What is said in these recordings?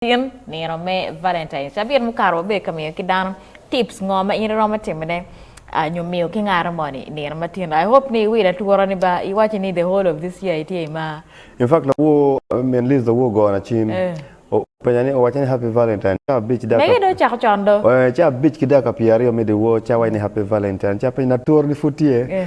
Tin, Nino me Valentine, cabit mukato wabedo ka miyo ki dano tips ngo ma in iromo timone ah, nyo miyo ki ngaro moni i nino ma tino. I hope ni iwilo atura ni ba iwaci ni the whole of this year itye i mar. In fact lawor min Liz lawor gona cim Eh. o penya ni owacca ni happy Valentine ca abic dakika Mege dong ocako con do. eh, ca abic ki dakika pyeraryo me dyewor ca awac ni happy Valentine ca apenye ni atura ni pud tye? Eh.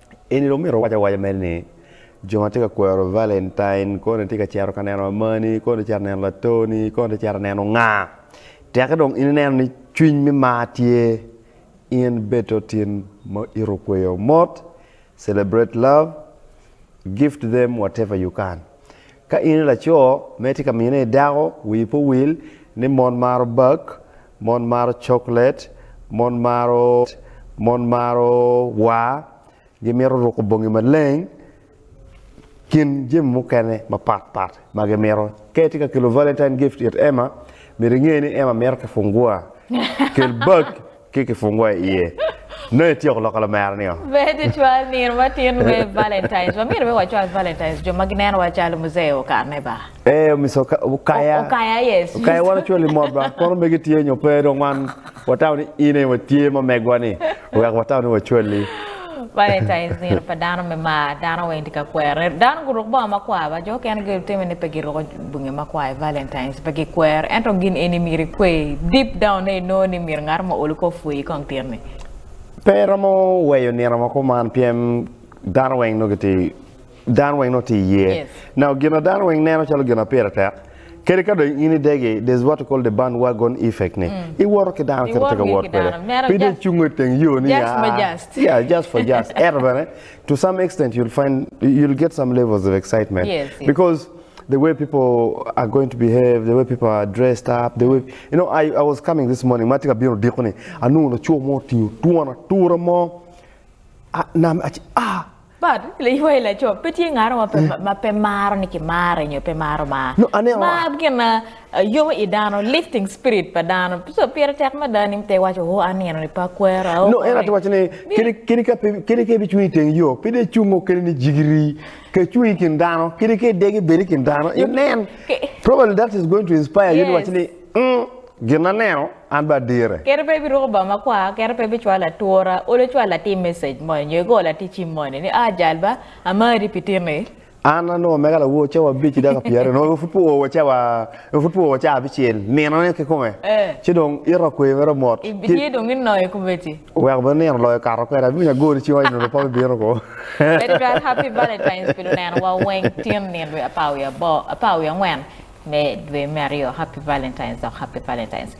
Eni dong myero owac awaca mere ni, 'Jo ma tye ka kwero Valentine koni tye ka cito ka neno amani, koni tye ka cito ka neno latoni, koni tye ka cito ka neno nga? Teke dong in ineno ni cwiny me mar tye in bed te otin ma ito kweyo mot, celebrate love, give to them whatever you can. Ka in i laco ma itye ka mine i dako, wii pe owil ni mon maro bak, mon maro coklet, mon maro mon maro war, gimito ruko bongi maleng kin jami mukene mapat pat ma gimito. Ka itye ka kelo Valentine gift it Emma, myero inge ni Emma mito kifungua. Kel bak Ki kifungua i iye. Nongo ityeko loko lamera nio. Ber tutwal nino matin me Valentines. Wamyero bene wacwal Valentines jo ma ginenowa calo muzee okane ba. Ee, Mister Oka- Okaya. Okaya, yes. Okaya wan ocwali mot ba. Kono megi tye nyo pe dong wan watamo ni in aye watye ma megwa ni wek watamo ni wacwali. Prioritizing pa dano me mar dano weng tye ka kwere. Dano guruk bongo makwar ba jo okene gitime ni pe giruko bongi makwar i Valentines pe gikwero ento gin eni myero ikwe deep down ne inongo ni myero ngat mo olu kor pwoyi kong tit ni. Pe iromo weyo nino ma kuman pien dano weng nongo gitye Dano weng nongo tye iye. Now gina dano weng neno calo gina pire tek, kadi ka dong in idegi, there's what you call the band wagon effect ni mm. iwoto ki dano kit ma tye ka wot kwede. Pe dong icungo i teng yo ni just for just. Yeah, just for just. Ento bene to some extent you'll find you'll get some levels of excitement yes, yes. because the way people are going to behave, the way people are dressed up, the way you know, I, I was coming this morning, ma tika bino diko ni, anungo laco mo tingo twon atura mo, ah, nam, ah, But liwa i laco pe tye ngaro ma pe ma pe maro ni ki mare nyo pe maro mar. No, ane o. Mar gin ma eh, yomo i dano, lifting spirit pa dano. So pire tek mada ni te iwaco o anino ni pe akwero ao. No, en aye to waco ni Bi- kadi kadi ka pe kadi ka ibicung i teng yo, pe dong icungo kadi ni jigiri. Ka icung i kin dano, kadi ka idegi bedi i kin dano, inen. Ke- Probably that is going to inspire you ni waci ni Yes. Ung, gin aneno, an bene adire. Kere pe ibiruko bongo makwar, kere pe ibicwalo atura, olo cwal latim message moni, nyo igor latic cim moni ni, Ah, jal ba, amari pi tini. An anongo mega lawo cawa abic ki daka pi aryo, nongo pud pe owa cawa, nongo pud pe owa cawa abicel, nino ne kikome, ci dong ito kwe mere mot. Iye dong inoyo komedi. Wek bene nino loyo kato kwede abino agori ci oonyo nongo pope bino ko. Very well happy valentines pi luneno wa weng tyen nino dwe apar wiye abor apar wiye angwen me dwe me aryo happy valentines dok happy valentines.